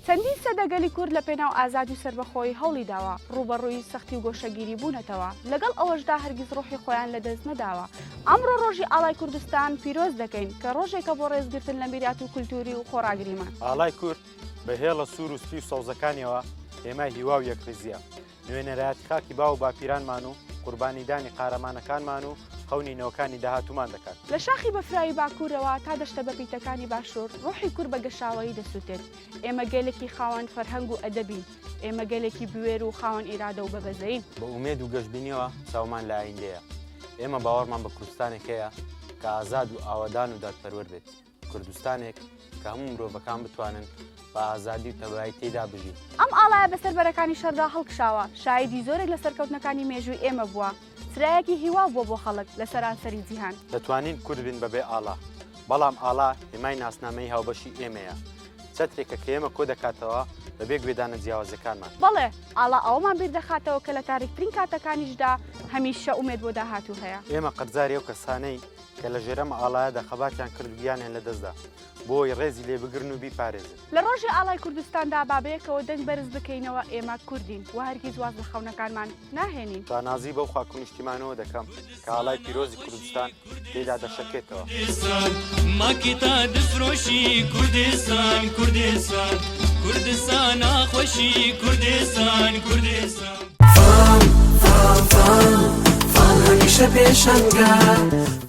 چەندین سەدە گەلی کورد لە پێناو ئازادی و سەربەخۆیی هەوڵی داوە، ڕووبەڕووی سەختی و گۆشەگیری بوونەتەوە، لەگەڵ ئەوەشدا هەرگیز ڕۆحی خۆیان لە دەست نەداوە. ئەمڕۆ ڕۆژی ئاڵای کوردستان پیرۆز دەکەین، کە ڕۆژێکە بۆ ڕێزگرتن لە میرات و کولتووری و خۆڕاگریمان. ئاڵای کورد بە هێڵە سوور و سپی و سەوزەکانیەوە هێمای هیوا و یەکڕیزیە. نوێنەرایەتی خاکی باو و باپیرانمان و قوربانیدانی قارەمانەکانمان و خەونی نەوەکانی داهاتوومان دەکات. لە شاخی بەفراوی باکوورەوە تا دەشتە بەپیتەکانی باشوور، ڕۆحی کورد بە گەشاوەیی دەسووتێت. ئێمە گەلێکی خاوەن فەرهەنگ و ئەدەبین. ئێمە گەلێکی بوێر و خاوەن ئیرادە و بەبەزەین. بە ئومێد و گەشبینیەوە چاومان لە ئایندەیە. ئێمە باوەڕمان بە کوردستانێک هەیە کە ئازاد و ئاوەدان و دادپەروەر بێت. کوردستانێک کە هەموو مرۆڤەکان بتوانن بە ئازادی و تەبایی تێدا بژین ئەم ئاڵایە بەسەر بەرەکانی شەردا هەڵکشاوە شایدی زۆرێک لە سەرکەوتنەکانی مێژووی ئێمە بووە چرایەکی هیوا بووە بۆ خەڵک لە سەرانسەری جیهان دەتوانین کورد بین بەبێ ئاڵا بەڵام ئاڵا هێمای ناسنامەی هاوبەشی ئێمەیە چەترێکە کە ئێمە کۆ دەکاتەوە بەبێ گوێدانە جیاوازەکانمان بەڵێ ئاڵا ئەوەمان بیر دەخاتەوە کە لە تاریکترین کاتەکانیشدا هەمیشە ئومێد بۆ داهاتوو هەیە. ئێمە قەرزاری ئەو کەسانەین کە لە ژێر ئەم ئاڵایەدا خەباتیان کرد و گیانیان لەدەستدا بۆی ڕێزی لێ بگرن و بیپارێزن. لە ڕۆژی ئاڵای کوردستاندا با بەیەکەوە دەنگ بەرز بکەینەوە، ئێمە کوردین و هەرگیز واز لە خەونەکانمان ناهێنین. شانازی بەو خاک و نیشتیمانەوە دەکەم کە ئاڵای پیرۆزی کوردستان تێیدا دەشەکێتەوە. ماکی تا دفرۆشی کوردستان، کوردستان، کوردستان ناخۆشی کوردستان، کوردستان. فام، فام، فام، فام هەمیشە پێشەنگە.